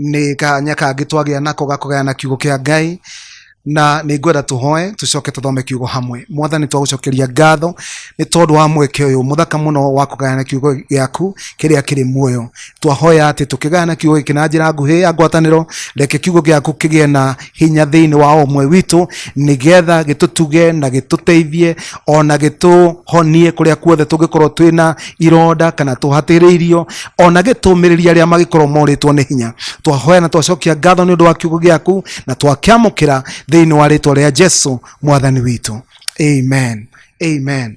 nĩ kanya kangĩ twagĩa nako gakũgayana kiugo kĩa ngai na nĩ ngwenda tũhoe tũcoke tũthome kiugo hamwe mwathani twagũcokeria ngatho nĩ tondũ wa mweke ũyũ mũthaka mũno wa kũgayana kiugo gĩaku kĩrĩa kĩrĩ muoyo twahoya atĩ tũkĩgayana kiugo gĩkĩ na njĩra nguhĩ ya ngwatanĩro reke kiugo gĩaku kĩgĩe na hinya thĩinĩ wa o ũmwe witũ nĩgetha gĩtũtuge na gĩtũteithie ona gĩtũhonie kũrĩa kuothe tũngĩkorwo twĩ na ironda kana tũhatĩrĩirio ona gĩtũmĩrĩria arĩa magĩkorwo morĩtwo nĩ hinya twahoya na twacokia ngatho nĩ ũndũ wa kiugo gĩaku na twakĩamũkĩra thĩinĩ wa rĩtwa rĩa jesu mwathani witũ amen amen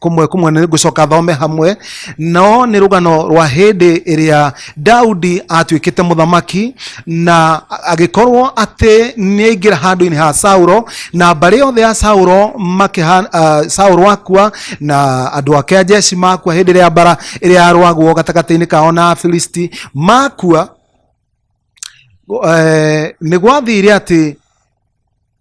kũmwe kũmwe nĩ ngũcoka thome hamwe no nĩ rũgano rwa hĩndĩ ĩrĩa daudi atuĩkĩte mũthamaki na agĩkorwo atĩ nĩ aingĩra handũ-inĩ ha sauro na mbarĩ yothe ya sauro makĩha, uh, sauro akua na andũ ake a jeshi makua hĩndĩ ĩrĩa mbara ĩrĩa yarwagwo gatagatĩ-inĩ kao na afilisti makua eh, nĩ gwathire atĩ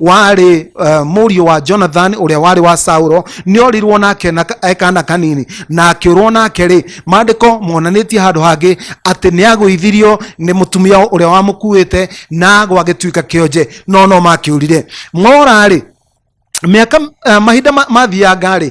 warĩ uh, mũriũ wa jonathan ũrĩa warĩ wa saulo nĩ orirwo nake na ka- e kana kanini na akĩũrwo nake rĩ maandĩko monanĩtie handũ hangĩ atĩ nĩ agũithirio nĩ mũtumia ũrĩa wamũkuĩte na gwagĩtuĩka kĩonje no no makĩũrire mora rĩ mĩaka uh, mahinda ma- mathianga rĩ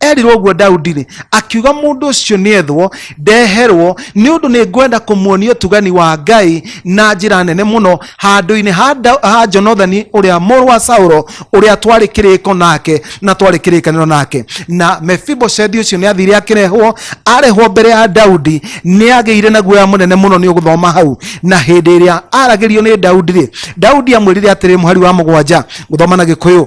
erirwo ũguo daudi-rĩ akiuga mũndũ ũcio nĩethwo ndeherwo nĩ ũndũ nĩ ngwenda kũmuonia ũtugani wa ngai na njĩra nene mũno handũ-inĩ ha Da- ha jonathani ũrĩa mũrũ wa saũlo ũrĩa twarĩ kĩrĩko nake na twarĩ kĩrĩkanĩro nake na mefiboshethi ũcio nĩ athire akĩrehwo arehwo mbere ya daudi nĩ agĩire na guoya mũnene mũno nĩ ũgũthoma hau na hĩndĩ ĩrĩa aragĩrio nĩ daudi-rĩ daudi amwĩrire atĩrĩ mũhari wa mũgwanja gũthoma na gĩkũyũ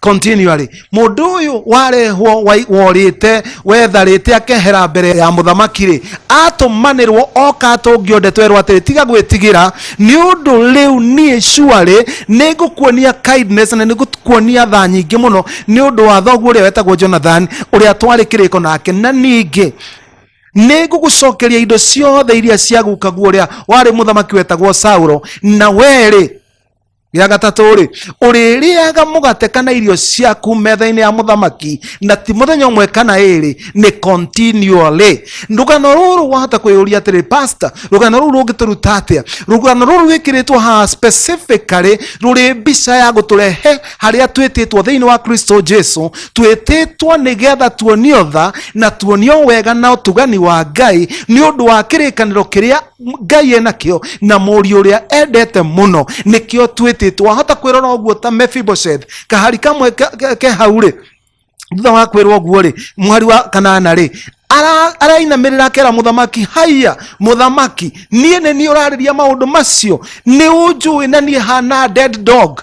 continually mundu uyu warehwo wai- worite wetharite akehera mbere ya muthamaki ri atumanirwo oka atungio ndeto erwo atiri tiga gwitigira ni undu riu nie shuarĩ nĩ ngũkuonia kindness na nĩ ngũkuonia tha nyingĩ mũno nĩ ũndũ wa thoguo ũrĩa wetagwo jonathan ũrĩa twarĩ kĩrĩko nake na ningĩ nĩ ngũgũcokeria indo ciothe iria ciagukaguo ũrĩa warĩ mũthamaki wetagwo saulo na werĩ gĩa gatatũ rĩ ũrĩrĩaga mũgate kana irio ciaku metha-inĩ ya mũthamaki na ti mũthenya ũmwe kana ĩrĩ nĩ continually rũgano rũrũ wahota kwĩyũria atĩrĩ pastor rũgano rũrũ rũngĩtũruta atĩa rũgano rũrũ rwĩkĩrĩtwo haha specifically rũrĩ mbica ya gũtũrehe harĩa twĩtĩtwo thĩinĩ wa kristo jesu twĩtĩtwo nĩgetha tuonio tha na tuonio wega na ũtugani wa ngai nĩ ũndũ wa kĩrĩkanĩro kĩrĩa ngai ena kĩo na mũriũ ũrĩa endete mũno nĩkĩo twĩtĩtwo wahota kwĩrora ũguo ta mefibosheth kahari kamwe ke- ke- ke hau rĩ thutha wa kwĩrwo ũguo rĩ mwari wa kanana rĩ ara- arainamĩrĩra akera mũthamaki haiya mũthamaki niĩ nĩ niĩ ũrarĩria maũndũ macio nĩ ũnjũĩ na niĩ hana dead dog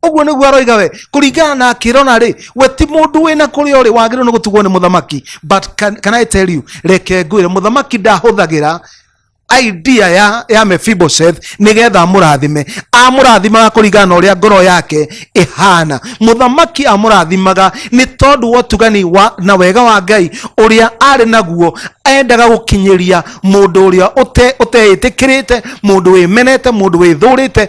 ũguo nĩguo aroiga we kũringana na akĩrona rĩ we ti mũndũ wĩna kũrĩa ũrĩ wagĩrĩirwo nĩ gũtugwo nĩ mũthamaki but can, can I tell you reke ngwĩre mũthamaki ndahũthagĩra idea ya, ya Mephibosheth nĩgetha amũrathime amũrathimaga kũringana na ũrĩa ngoro yake ĩhana mũthamaki amũrathimaga nĩ tondũ wa ũtugani wa, na wega wa ngai ũrĩa arĩ naguo endaga gũkinyĩria mũndũ ũrĩa ũte- ũteĩtĩkĩrĩte mũndũ wĩmenete mũndũ wĩthũrĩte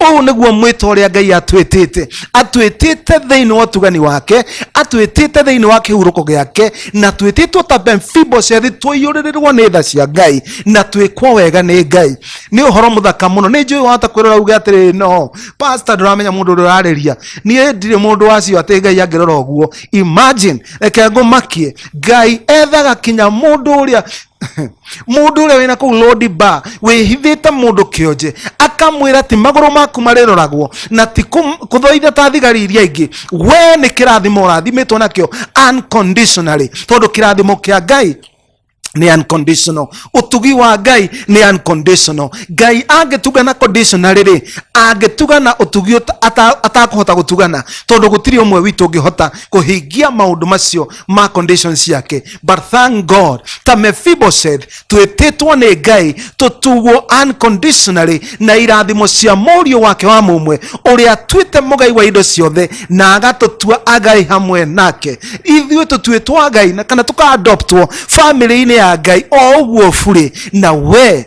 ũũ nĩguo mwĩta ũrĩa ngai atwĩtĩte atwĩtĩte thĩinĩ wa ũtugani wake atwĩtĩte thĩinĩ wa kĩhurũko gĩake na twĩtĩtwo ta mfibosethi tũiyũrĩrĩrwo nĩ tha cia ngai na twĩkwo wega nĩ ngai nĩ ũhoro mũthaka mũno nĩ njũĩ wahota kwĩrora uge atĩrĩ no pasta ndũramenya mũndũ ũrĩa ũrarĩria niĩ ndirĩ mũndũ wacio atĩ ngai angĩrora ũguo imagine reke ngũmakie ngai ethaga kinya mũndũ ũrĩa mundu uria wina kuu lodi bar wihithite mundu kionje akamwira ati maguru maku mariroragwo na ti kum- kuthoitha ta thigari iria ingi we ni kirathimo urathimitwo nakio unconditionally tondu kirathimo kia ngai ni unconditional utugi wa ngai ni unconditional ngai angĩtugana conditionally rĩ angĩtugana utugi uta- ata- atakũhota gũtugana tondũ gũtirĩ ũmwe witũ ũngĩhota kũhingia maũndũ macio ma condition ciake but thank god ta mephibosheth twĩtĩtwo nĩ ngai tũtugwo unconditionally na irathimo cia mũriũ wake wa mũmwe ũrĩa tuĩte mũgai wa indo ciothe na agatũtua agai hamwe nake ithuĩ tũtuĩtwo agai na kana tũkaadoptwo family-inĩ ya ngai o ũguo burĩ na we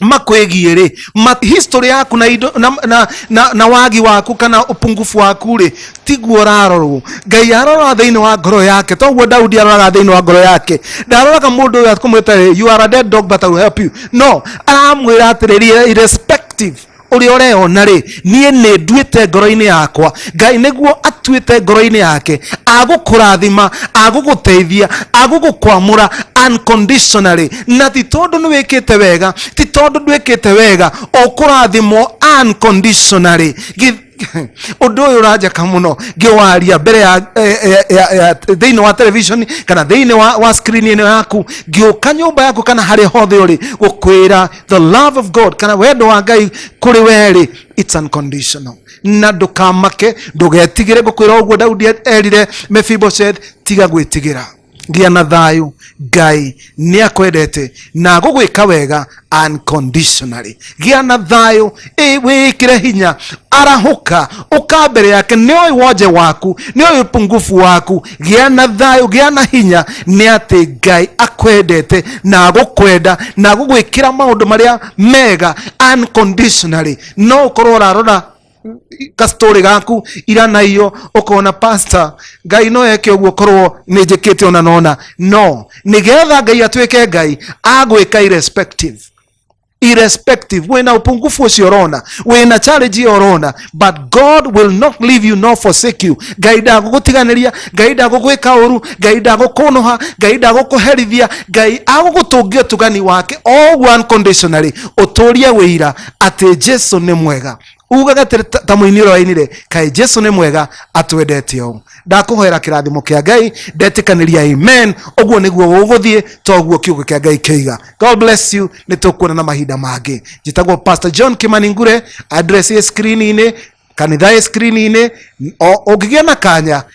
makwigie ri ma, history yaku na, indo, na, na, na, na wagi waku kana upungufu waku ri tiguo urarorwo ngai arora thiini wa ngoro yake toguo daudi aroraga thiini wa ngoro yake ndaroraga mundu uyu akumwita you are a dead dog but I will help you no aramwira atiriri irrespective ũrĩa ũreyona rĩ niĩ nĩ nduĩte ngoro-inĩ yakwa ngai nĩguo atuĩte ngoro-inĩ yake agũkũrathima agũgũteithia agũgũkwamũra unconditionally na ti tondũ nĩ wĩkĩte wega ti tondũ ndwĩkĩte wega ũkũrathimwo unconditionally Gi- ũndũ ũyũ ũranjaka mũno ngĩwaria mbere ya eh, eh, ya- ya- thĩinĩ wa television kana thĩinĩ wa, wa screen ĩno yaku ngĩũka nyũmba yaku kana harĩa hothe ũrĩ gũkwĩra the love of god kana wendo wa ngai kũrĩ werĩ its unconditional na ndũkamake ndũgetigĩre ngũkwĩra ũguo daudi erire mephibosheth tiga gwĩtigĩra gĩa na thayũ ngai nĩ akwendete na gũgwĩka wega unconditionally gĩa na thayũ ĩ- wĩĩkĩre hinya arahũka ũka mbere yake nĩoĩ wonje waku nĩoĩ ũpungufu waku gĩa na thayũ gĩa na hinya nĩ atĩ ngai akwendete na agũkwenda na agũgwĩkĩra maũndũ marĩa mega unconditionally no ũkorwo ũrarora kastori gaku ira na iyo ukona pastor ngai no eke uguo korwo nä njä kä te ona nona no nä getha ngai atuä ke ngai agwä ka irrespective irrespective wina upungufu ucio urona wina challenge iyo urona but god will not leave you nor forsake you ngai ndagũgũtiganĩria ngai ndagũgwĩka ũru ngai ndagũkũnũha ngai ndagũkũherithia ngai agũgũtũngia ũtugani wake all unconditionally ũtũrie wĩira atĩ jesu nĩ mwega ugaga atĩrĩ ta- ta mũini ũrĩa wainire kaĩ jesu nĩ mwega atwendete ũũ ndakũhoera kĩrathimo kĩa ngai ndetĩkanĩria amen ũguo nĩguo gũgũthiĩ to ũguo kiugo kĩa ngai kĩiga god bless you nĩ tũkuona na mahinda mangĩ njĩtagwo pastor john kimani ngure address ĩ screen-inĩ kanitha ĩ screen-inĩ O- ũngĩgĩa na kanya